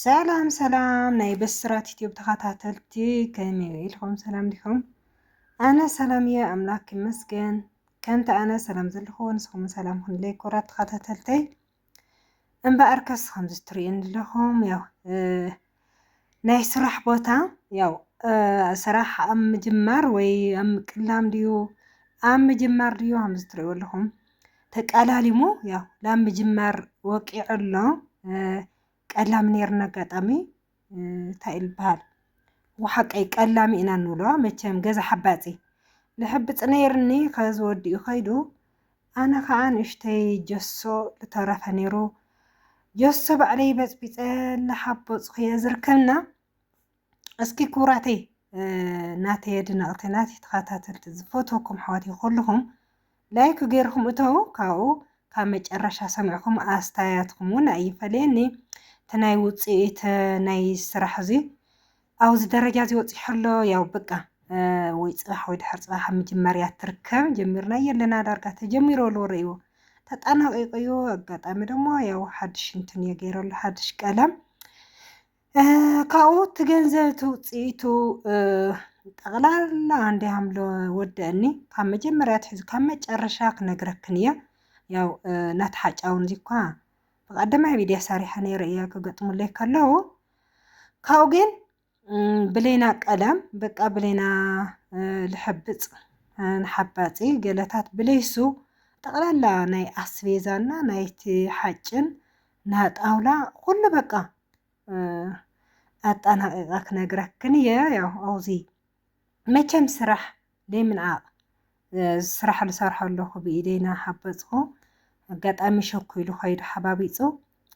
ሰላም ሰላም ናይ ብስራት ዩቲዩብ ተኸታተልቲ ከመይ ኢልኩም ሰላም ዲኹም? ኣነ ሰላም እየ ኣምላክ ይመስገን። ከምቲ ኣነ ሰላም ዘለኹዎ ንስኹም ሰላም ክንለይ ኮራት ተኸታተልተይ እምበኣር ከስ ከምዚ ትርእዩኒ ኣለኹም ያው ናይ ስራሕ ቦታ ያው ስራሕ ኣብ ምጅማር ወይ ኣብ ምቅላም ድዩ ኣብ ምጅማር ድዩ ከምዚ ትርእዩ ኣለኹም ተቃላሊሙ ያው ላብ ምጅማር ወቂዑ ኣሎ ቀላሚ ነይሩ ኣጋጣሚ እንታይ እዩ ዝበሃል ወሓቀይ ቀላሚ ኢና ንብሎ መቸም ገዛ ሓባፂ ልሕብፅ ነይርኒ ከዚ ወዲኡ ከይዱ ኣነ ከዓ ንእሽተይ ጀሶ ዝተረፈ ነይሩ ጀሶ ባዕለይ በፅቢፀ እናሓቦፅኩ እየ ዝርከብና እስኪ ክቡራተይ ናተይ ኣድነቕቲ ናተይ ተኸታተልቲ ዝፈትወኩም ኣሕዋተይ ኩልኹም ላይክ ገይርኩም እተው ካብኡ ካብ መጨረሻ ሰሚዕኩም ኣስተያየትኩም እውን ኣይፈለየኒ እቲ ናይ ውፅኢት ናይ ስራሕ እዚ ኣብዚ ደረጃ እዚ ወፂሑ ኣሎ ያው በቃ ወይ ፅባሕ ወይ ድሕር ፅባሕ ኣብ መጀመርያ ትርከብ ጀሚርና የለና ዳርጋ ተጀሚሮ ኣሎ ርእይዎ ተጠናቂቁ እዩ ኣጋጣሚ ደሞ ያው ሓድሽ እንትን እየ ገይረሉ ሓድሽ ቀለም ካብኡ እቲ ገንዘብ እቲ ውፅኢቱ ጠቕላላ እንዲ ሃምለ ወደአኒ ካብ መጀመርያ ትሕዚ ካብ መጨረሻ ክነግረክን እየ ያው ናቲ ሓጫውን እዚኳ ብቀደማይ ቪድያ ሰሪሐ ነይረ እየ ክገጥሙለይ ከለዉ ካብኡ ግን ብሌና ቀለም በቃ ብሌና ልሐብፅ ንሓባፂ ገለታት ብለይሱ ጠቕላላ ናይ ኣስቤዛና ናይቲ ሓጭን ናጣውላ ኩሉ በቃ ኣጣናቂቀ ክነግረክን እየ ያው ኣውዚ መቸም ስራሕ ዘይምንዓቅ ስራሕ ዝሰርሖ ኣለኹ ብኢደይ እናሓበፅኩ ኣጋጣሚ ሸኩ ኢሉ ከይዱ ሓባቢፁ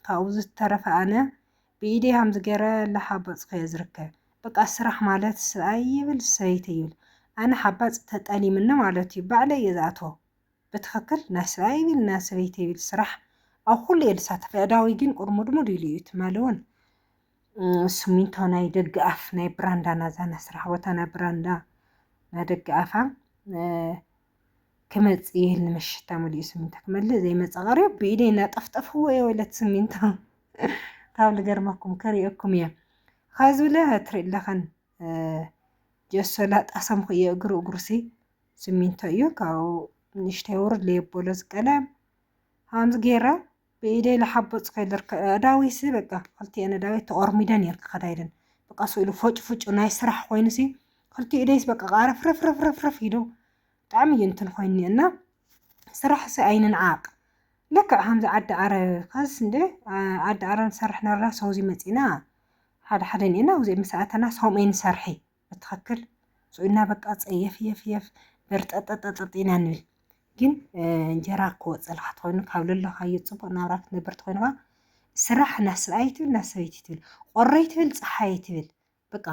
ካብኡ ዝተረፈ ኣነ ብኢደይ ከምዚ ገይረ እናሓበፅኩ እየ ዝርከብ በቃ ስራሕ ማለት ሰብኣይ ይብል ሰበይቲ ይብል ኣነ ሓባፅ ተጠሊምኒ ማለት እዩ ባዕለይ እየ ዝኣትዎ ብትክክል ናይ ሰብኣይ ይብል ናይ ሰበይቲ ይብል ስራሕ ኣብ ኩሉ እየ ዝሳተፍ ኣእዳወይ ግን ቁርሙድሙድ ኢሉ እዩ ትማሊ እውን ስሚንቶ ናይ ደገ ኣፍ ናይ ብራንዳ ናዛ ናይ ስራሕ ቦታ ናይ ብራንዳ ናይ ደገ ኣፋ ክመፅ እየ ኢልኒ መሸታ ሙሉኡ ስሚንቶ ክመልእ ዘይመፀ ቀሪቡ ብኢደይ እናጠፍጠፍዎ እየ ወለት ስሚንቶ ካብ ልገርመኩም ክሪኦኩም እየ ኸዚ ብለ ትርኢ ኣለኸን ጀሶ ላጣ ሰምኩዮ እግሩ እግሩሲ ስሚንቶ እዩ ካብኡ ንእሽተይ ውርድ ለየበሎ ዝቀለም ሃምዝ ጌራ ብኢደይ ለሓቦፅ ከይልርከ ኣዳዊሲ በቃ ክልቲኤን ኣዳዊት ተቆርሚደን እየን ክኸዳ ኢለን በቃ ስእሉ ፎጭ ፉጭ ናይ ስራሕ ኮይኑሲ ክልቲኡ ኢደይስ በቃ ቃረፍረፍረፍረፍረፍ ኢሉ ብጣዕሚ እዩ እንትን ኮይኒ እና ስራሕሲ ኣይንንዓቅ ልክዕ ከምዚ ዓዲ ዓረብ ካስ እንደ ዓዲ ዓረብ ንሰርሕ ነርና ሰውዚ መፂና ሓደ ሓደ እኔ እና ውዜ ምስ ኣተናስ ሆም ኤን ሰርሒ በትኸክል ሱኢና በቃ ጸየፍ የፍ የፍ በርጠጠጠጠጥ ኢና ንብል ግን እንጀራ ክወፅልካ ትኮይኑ ካብ ለለካዮ ፅቡቅ ናብራ ክትነብር ትኮይንካ ስራሕ እና ሰብኣይ ትብል እና ሰበይቲ ትብል ቆረይ ትብል ፀሓይ ትብል በቃ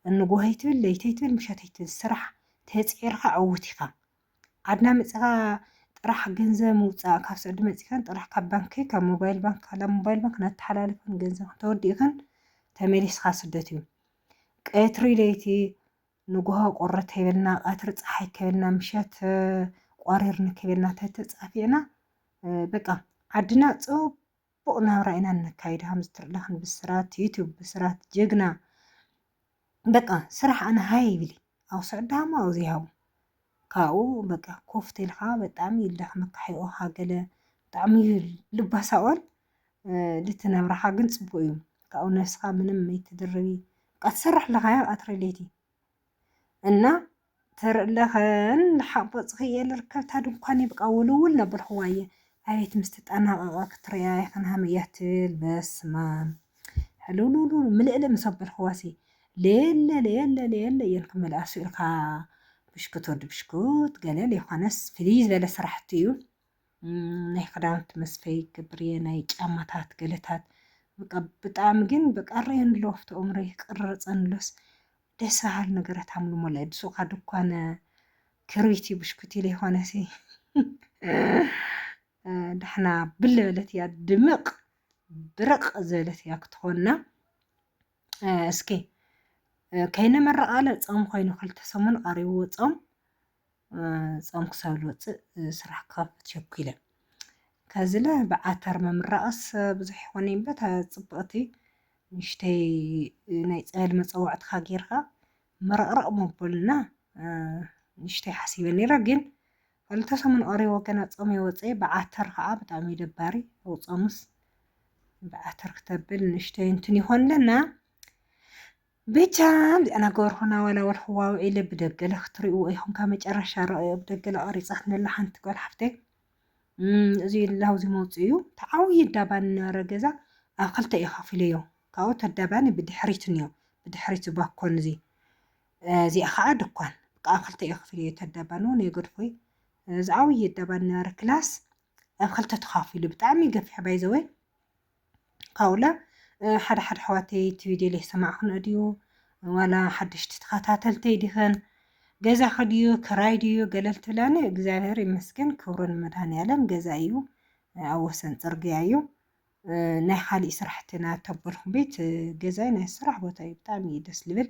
እንጎሀይ ትብል ለይተይ ትብል ምሸተይ ትብል ስራሕ ተፅዒርካ ዕውት ኢካ ዓድና መጺኻ ጥራሕ ገንዘብ ምውፃእ ካብ ስዑዲ መጺኸን ጥራሕ ካብ ባንኪ ካብ ሞባይል ባንክ ካብ ሞባይል ባንክ ነተሓላልፈን ገንዘብ ተወዲእኽን ተመሊስኻ ስደት እዩ ቀትሪ ለይቲ ንጉሆ ቁሪ ከይበልና ቀትሪ ፀሓይ ከይበልና ምሸት ቋሪርኒ ከይበልና ተተፃፊዕና በቃ ዓድና ፅቡቅ ፅቡቅ ናብራ ኢና ነካይድ ሃምዝትርለክን ብስራት ዩቱብ ብስራት ጀግና በቃ ስራሕ ኣነ ሃይ ይብሊ ኣብ ስዕዳሞ ኣብ ዘይሃቡ ካብኡ በቃ ኮፍ ተልካ በጣም ይልዳክ መካሒኦ ሃገለ ብጣዕሚ እዩ ልባ ሳኦል ልቲ ነብራካ ግን ፅቡቅ እዩ ካብኡ ነብስካ ምንም መይትድርቢ በቃ ትሰርሕ ኣለካ ኣትረሌቲ እና ትር'ለኽን ሓቦጽኽ'የ ልርከብታ ድንኳን ይብቃ ውልውል ለበልኽዋ'የ ኣቤት ምስ ተጣናቐቐ ክትርእያ ኢኽን ሃም'ያ ትብል በስማም ሕልውልውልውል ምልእልእ ምስ ኣበልኽዋ'ሲ ለየለ ለየለ ለየለ እየን ክመልኣ ስእልካ ብሽኩት ወዲ ብሽኩት ገለ ለይኾነስ ፍልይ ዝበለ ስራሕቲ'ዩ ናይ ክዳውንቲ መስፈይ ክገብር'የ ናይ ጫማታት ገለታት ብጣዕሚ ግን በቃ ረየንሎ ፍትኦም ረይ ቅርርጸንሎስ ደስ በሃሊ ነገራት ኣምልሞ ላይ ብሱኻ ድኳነ ክሪቲ ብሽኩቲ ለይኾነሲ ዳሕና ብል በለት እያ ድምቕ ብርቕ ዝበለት እያ ክትኾንና እስኪ ከይነመረቓለ ፆም ኮይኑ ክልተ ሰሙን ቐሪብዎ ፆም ጾም ክሳብ ዝወጽእ ስራሕ ክኸፍት ቸኲለ። ከዝለ ብዓተር ምምራቕስ ብዙሕ ይኾን እምበ እታ ጽብቕቲ ንእሽተይ ናይ ጸበል መጸዋዕትኻ ጌርካ ምርቕርቕ መበሉና ንእሽተይ ሓሲበ ነይረ ግን ክልተ ሰሙን ቐሪቦ ገና ጾም የወጸየ ብዓተር ከዓ ብጣዕሚ እዩ ደባሪ ኣብ ጾምስ ብዓተር ክተብል ንእሽተይ እንትን ይኾን ኣለና ብቻ እንዲኣ ነገርኹና ዋላ ወልሕዋ ውዒለ ብደገለ ክትሪእዎ ኢኹም ካብ መጨረሻ ረኣዮ ብደገለ ቀሪጻትነላ ሓንቲ ጓል ሓፍተይ እዚ ላውዚ መውፅኡ ተዓውዪ ዳባን ነበረ ገዛ ኣብ ክልተ እዩ ከፊለዮ ካብኡ ተዳባኒ ብድሕሪት እኒኦ ብድሕሪት ባኮን እዚ እዚኣ ከዓ ድኳን ኣብ ክልተ እዩ ከፊለዮ ተዳባን እውን የገድፎይ እዚ ዓብዪ ዳባን ነበረ ክላስ ኣብ ክልተ ተኻፊሉ ብጣዕሚ ገፊሕ ባይዘወይ ካብኡ ለ ሓደ ሓደ ኣሕዋተይ እቲ ቪድዮ ዘይሰማዕክንኦ ድዩ ዋላ ሓደሽቲ ተኸታተልተይ ዲኽን ገዛኺ ድዩ ክራይ ድዩ ገለ እንትብላኒ እግዚኣብሔር ይመስገን ክብሩ ንመድሃኒዓለም ገዛ እዩ ኣብ ወሰን ፅርግያ እዩ ናይ ካሊእ ስራሕትና ተበልኹም ቤት ገዛይ ናይ ስራሕ ቦታ እዩ ብጣዕሚ እዩ ደስ ልብል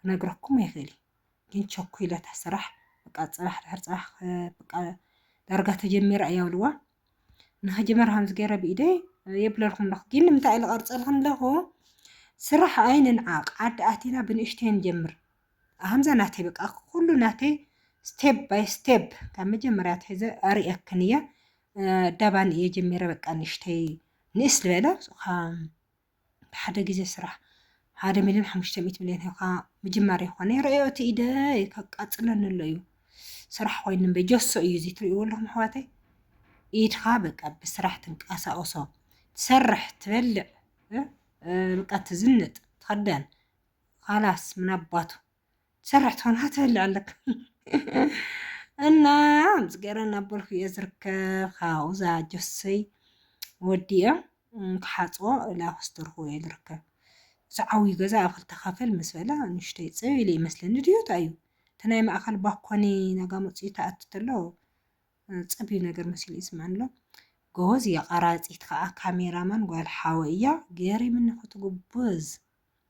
ክነግረኩም ኣይክእልን ግን ቸኩይለ እታ ስራሕ በቃ ፅባሕ ድሕሪ ፅባሕ በቃ ዳርጋ ተጀሚራ እያ ብልዋ ንኸጀመር ከምዚ ገይረ ብኢደይ የብለልኩም ኣለኹ ግን ንምንታይ ኢለ ቀርፀልኩም ኣለኹ ስራሕ ኣይንንዓቕ ዓዲ ኣቲና ብንእሽተይ ንጀምር ከምዛ ናተይ በቃ ኩሉ ናተይ ስቴፕ ባይ ስቴፕ ካብ መጀመርያ ትሒዘ ኣርእየክን እየ ዳባን እየ ጀሚረ በቃ ንእሽተይ ንእስ ዝበለ ብሓደ ግዜ ስራሕ ሓደ ሚልዮን ሓሙሽተ ሚእቲ ሚልዮን ሂብካ ምጅማር ይኾነ ይረኣዮ እቲ ኢደይ ከቃፅለኒ ኣሎ እዩ ስራሕ ኮይኑ እምበይ ጀሶ እዩ እዚ ትርእይዎ ኣለኹም ኣሕዋተይ ኢድኻ በቃ ብስራሕ ትንቀሳቀሶ ትሰርሕ ትበልዕ በቃ ትዝንጥ ትኸደን ኻላስ ምናባቱ ሰራሕ ትኾና ትበልዕ ኣለክ እና ኣምፅ ገረ እናበልኩ እየ ዝርከብ ካብኡ እዛ ጆሰይ ወዲኦ ክሓፅቦ እላ ክስተርኩ እየ ዝርከብ እዚ ዓብዩ ገዛ ኣብ ክልተ ካፈል ምስ በለ ንሽተይ ፅብ ኢለ ይመስለኒ ድዩ እንታይ እዩ እቲ ናይ ማእኸል ባኮኒ ናጋ መፅኡ ተኣቱ ተሎ ፅብዩ ነገር መሲሉ ይስማዕ ኣሎ ጎበዝ እያ ቀራፂት ከዓ ካሜራማን ጓል ሓወ እያ ገሪምኒ ክትጉብዝ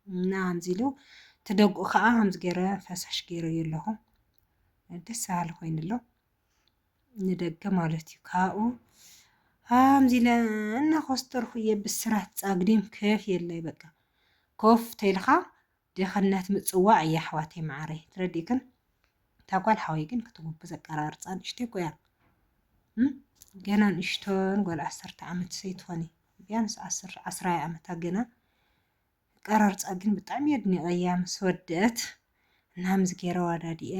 እና ከምዚ ኢሉ እቲ ደጉኡ ከዓ ከምዚ ገይረ ፈሳሽ ገይረዮ ኣለኹ ደስ በሃሊ ኮይኑ ኣሎ ንደገ ማለት እዩ ካብኡ ከምዚ ኢለ እናኾስተርኩ እየ ብስራት ፃግዲም ከፍ የለይ በቃ ኮፍ ተይልካ ድኽነት ምፅዋዕ እየ ኣሕዋተይ መዓረይ ትረዲእክን እታ ጓል ሓወይ ግን ክትጉብዝ ኣቀራርፃ ንእሽተይ እኮ እያ ገና ንእሽቶን ጓል ዓሰርተ ዓመት ሰይትኾኒ ቢያንስ ዓስራይ ዓመታ ገና ቀረርፃ ግን ብጣዕሚ እየ ኣድኒቐያ ምስ ወደት እና ምስ ገይረ ዋዳዲኤ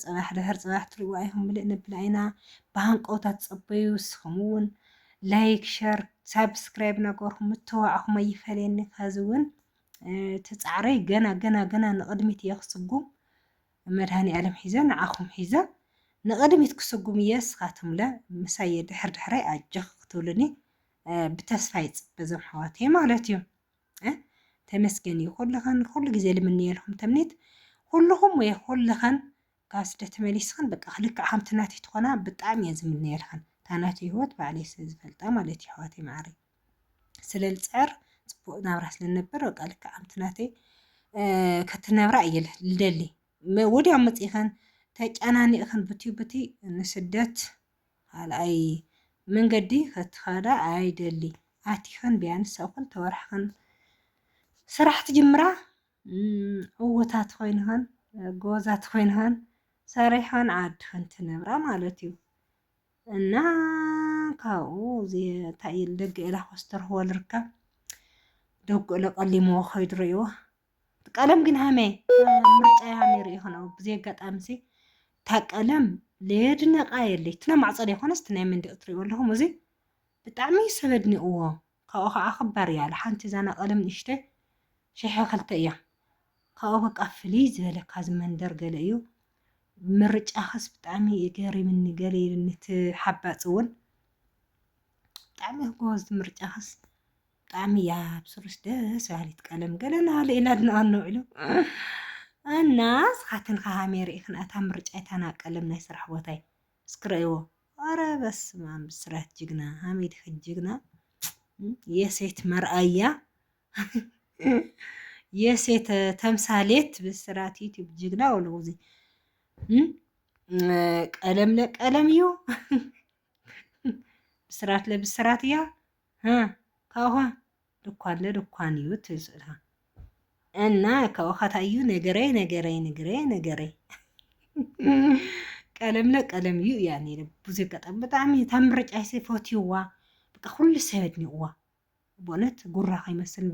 ፅባሕ ድሕር ፅባሕ ትሪእዋ ኢኹም ምልእ ነብላ ኢና ብሃንቀውታ ትፀበዩ ንስኹም እውን ላይክ ሸር ሳብስክራይብ ነገርኹ ምትዋዕኹም ኣይፈለየኒ ከዚ እውን ትፃዕረይ ገና ገና ገና ንቕድሚት እየ ክስጉም መድሃኒ ኣለም ሒዘ ንዓኹም ሒዘ ንቕድሚት ክስጉም እየ ስኻትምለ ምሳየ ድሕር ድሕረይ ኣጀኽ ክትብሉኒ ብተስፋ ይጽበ ዞም ኣሕዋተይ ማለት እዩ ተመስገን እዩ ኩልኸን ኩሉ ግዜ ልምንየልኩም ተምኔት ኩልኹም ወይ ኩልኸን ካብ ስደት ተመሊስኽን በቃ ክልክዕ ከምቲ ናተይ ትኾና ብጣዕሚ እየ ዝምንየልኽን እታ ናተይ ህይወት ባዕለይ ስለ ዝፈልጣ ማለት እዩ ኣሕዋተይ ማዕረ ስለ ልፅዕር ፅቡቅ ናብራ ስለ ነበር በቃ ልክዕ ከምቲ ናተይ ከትነብራ እየ ልደሊ ወዲያው መፂእኸን ተጨናኒእኽን ብትዩ ብቲ ንስደት ካልኣይ መንገዲ ከትኸዳ ኣይደሊ ኣቲኽን ቢያንስ ኣብ ክልተ ወርሕኽን ስራሕ ትጅምራ ዕውታት ኮይንኽን ጎበዛት ኮይንኽን ሰሪሕኽን ዓድኽን ትነብራ ማለት እዩ እና ካብኡ እንታይ ደገ ኢላ ኮስተርህዎ ልርከብ ደጉ ኢለ ቀሊምዎ ከይዱ ርእይዎ እቲ ቀለም ግን ሃመ ምርጫ ሃመ ርኢ ከነው ብዘይ ኣጋጣሚ ሲ እታ ቀለም ለየድነቃ የለይ እቲ ናይ ማዕፆ ዘይኮነስ እቲ ናይ መንደቅ ትሪእዎ ኣለኹም እዚ ብጣዕሚ ሰብ ኣድኒቕዎ ካብኡ ከዓ ክባር እያ ሓንቲ ዛና ቀለም ንእሽተ ሽሐ ክልተ እያ ካብኡ በቃ ፍልይ ዝበለ ካብዚ መንደር ገለ እዩ ምርጫኽስ ብጣዕሚ ገሪምኒ ገለ ኢልኒ እቲ ሓባፂ እውን ብጣዕሚ ጎበዝ ምርጫኽስ ብጣዕሚ እያ ብስሩስ ደስ በሃሊት ቀለም ገለ ናሃለ ኢና ድንኣኖ ውዒሉ እና ስኻትን ከሃሜ ርኢኽን ኣታ ምርጫ ይታና ቀለም ናይ ስራሕ ቦታይ እስኪ ረእይዎ ኧረ በስመ ኣም ብስራት ጅግና ሃሜት ኢኺ ጅግና የሴት መርኣያ የሴት ተምሳሌት ብስራት ዩቲዩብ ጅግና ወሉ ጊዜ ቀለም ለቀለም እዩ ብስራት ለብስራት እያ ህህ ካብኡካ ድኳለ ድኳን እዩ ትብል ስእልካ እና ካብኡካ ታይ እዩ ነገረይ ነገረይ ነገረይ ነገረይ ቀለምለ ቀለም እዩ እያ ነይረ ብዙ ኣጋጣሚ ብጣዕሚ እታ ምርጫይሲ ፈትዩዋ በቃ ኩሉ ሰብ ኣድኒቕዋ ብእውነት ጉራ ከይመስል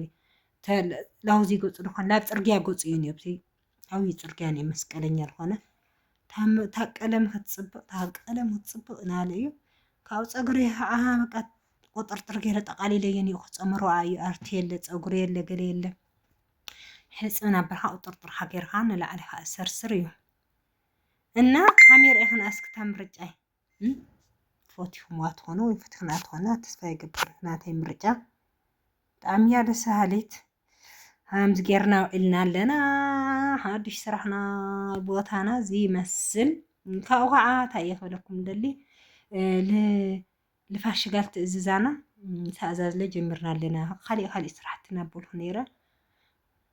ላውዚ ገፁ ድኳን ናብ ፅርግያ ገፁ እዩ ነብቲ ዓብዪ ፅርግያ ናይ መስቀለኛ ዝኾነ እታ ቀለም ክትፅብቕ እታ ቀለም ክትፅብቕ ናለ እዩ ካብኡ ፀጉሪ ከዓ በቃ ቁጥርጥር ገይረ ጠቃሊለየ እኒኦ ክፀምሮ እዩ ኣርቲ የለ ፀጉሪ የለ ገለ የለ ሕፅን ኣበልካ ቁጥርጥር ሃገርካ ንላዕሊ ከዓ ሰርሰር እዩ እና ካሜራ ይኽን ኣስክታ ምርጫይ ፈቲኹምዋ ትኾኑ ወይ ፈቲኽና ትኾና ተስፋ ይገብር ናተይ ምርጫ ብጣዕሚ እያ ደስ በሃሊት ከምዚ ጌርና ውዒልና ኣለና ሓዱሽ ስራሕና ቦታና እዚ ይመስል ካብኡ ከዓ እንታይ እየ ክብለኩም ደሊ ልፋሽጋል ትእዝዛና ተኣዛዝለ ጀምርና ኣለና ካሊእ ካሊእ ስራሕቲ ናበልኩ ነይረ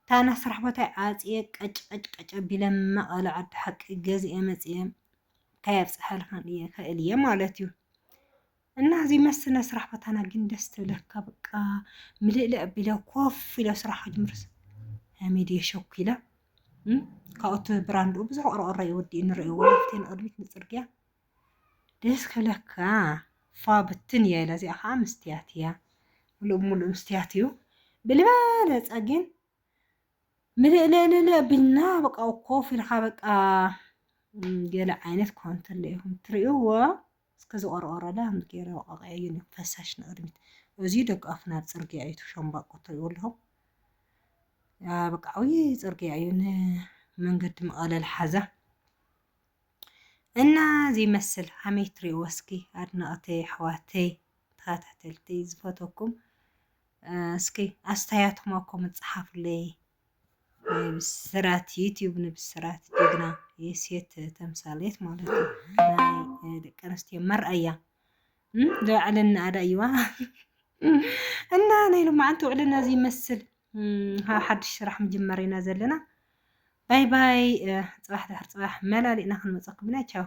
እታ ናይ ስራሕ ቦታይ ዓጽየ ቀጭ ቀጭ ቀጭ ኣቢለ መቐለ ዓዲ ሓቂ ገዚኤ መጺኤ እንታይ ኣብጽሓልካ እየ ክእል እየ ማለት እዩ እና እዚ መስ ናይ ስራሕ ቦታና ግን ደስ ትብለካ በቃ ምልእልእ ኣቢለ ኮፍ ኢለ ስራሕ ክጅምርስ ሚድየ ሸኩ ኢለ ካብኡቲ ብራንድኡ ብዙሕ ቆርቆሮ ይወዲ ንሪኦ ወላፍቲ ንቅድሚት ንፅርግያ ደስ ክብለካ ፏ ብትን እያ ኢላ እዚኣ ከዓ ምስትያት እያ ምሉእ ብምሉእ ምስትያት እዩ ብልበለፀ ግን ምልእልእልእ ቢልና በቃ ኮፍ ኢልካ በቃ ገለ ዓይነት ኮንትለ ኢኹም ትርእይዎ እስከ ዝቆርቆረላ ገይረ ወቃቂዐዩ እዩ ፈሳሽ ንቅድሚት እዚ ደቂ ኣፍ ናብ ፅርግያ እዩ ሸምባቆ ትርእይዎ ኣለኹም በቃ ዓብዪ ፅርግያ እዩ ንመንገዲ መቐለል ሓዛ እና እዚ ይመስል ሓሜት ትሪእዎ እስኪ ኣድነቅተይ ኣሕዋተይ ተኸታተልቲ ዝፈተኩም እስኪ ኣስተያየትኩም ኣብ ኮመንት ጸሓፉለይ። ብስራት ዩቲዩብ ንብስራት ጀግና የሴት ተምሳሌት ማለት እዩ ናይ ደቂ ኣንስትዮ መርኣያ ዝባዕለና ኣዳ እዩዋ እና ናይ ሎማዓንቲ ውዕልና እዚ ይመስል ሓድሽ ስራሕ ምጅመር ኢና ዘለና ባይ ባይ ፅባሕ ድሕር ፅባሕ መላሊእና ክንመፀኩም ኢና ቻው